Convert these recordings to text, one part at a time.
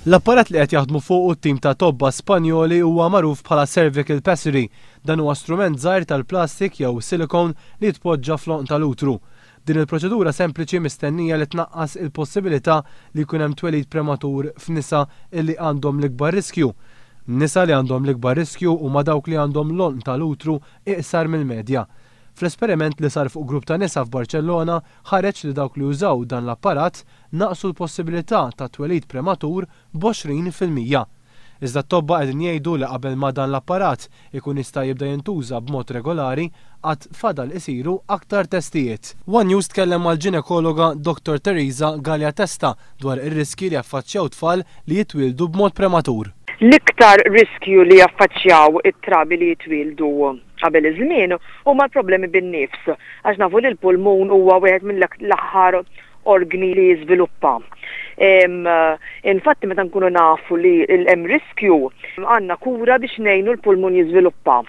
L-apparat li qed jaħdmu fuqu t-tim ta' tobba Spanjoli huwa magħruf bħala cervical pessary. Dan huwa strument żgħir tal-plastik jew silicone li jitpoġġa fl-għonq tal-utru. Din il-proċedura sempliċi mistennija li tnaqqas il-possibilità li jkun hemm twelid prematur f'nisa illi għandhom l-ikbar riskju. Nisa li għandhom l-ikbar riskju huma dawk li għandhom l-għonq tal-utru iqsar mill-medja. Fl-esperiment li sar fuq grupp ta' nisa f'Barċellona ħareġ li dawk li użaw dan l-apparat naqqsu l-possibilità ta' twelid prematur b'għoxrin fil-mija. Iżda t-tobba qegħdin jgħidu li qabel ma dan l-apparat ikun jista' jibda jintuża b'mod regolari għad fadal isiru aktar testijiet. One News tkellem mal-ġinekologa Dottor Teresa Galea Testa dwar ir-riskji li jaffaċċjaw tfal li jitwieldu b'mod prematur. L-iktar riskju li jaffaċċjaw it-trabi li jitwieldu Qabel iż-żmien huma l-problemi bin-nifs, għax nafu li l-pulmun huwa wieħed mill-aħħar orgni li jiżviluppa. Infatti meta nkunu nafu li hemm riskju, għandna kura biex ngħinu l-pulmun jiżviluppa.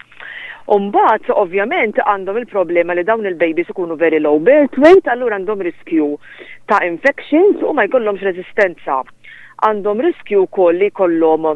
U mbagħad ovvjament għandhom il-problema li dawn il-babies ikunu very low birth weight allura għandhom riskju ta' infections u ma jkollhomx reżistenza. għandhom riskju wkoll li jkollhom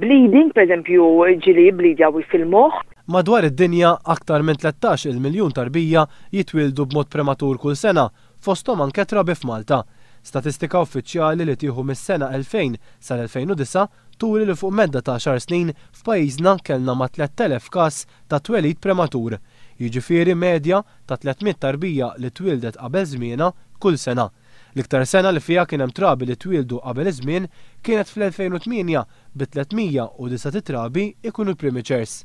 bleeding, pereżempju ġili jibblidja fil-moħħ. Madwar id-dinja, aktar minn tlettax-il miljun tarbija jitwieldu b'mod prematur kull sena, fosthom anke trabi f'Malta. Statistika uffiċjali li tieħu mis-sena 2000 sal-2009 turi li fuq medda ta' għaxar snin f'pajjiżna kellna ma' tlett elef każ ta' twelid prematur, jiġifieri medja ta' tliet mitt tarbija li twieldet qabel żmienha kull sena. L-iktar sena li fiha kien hemm trabi li twieldu qabel iż-żmien kienet fl-2008 bi 309 titrabi jkunu l-primicers.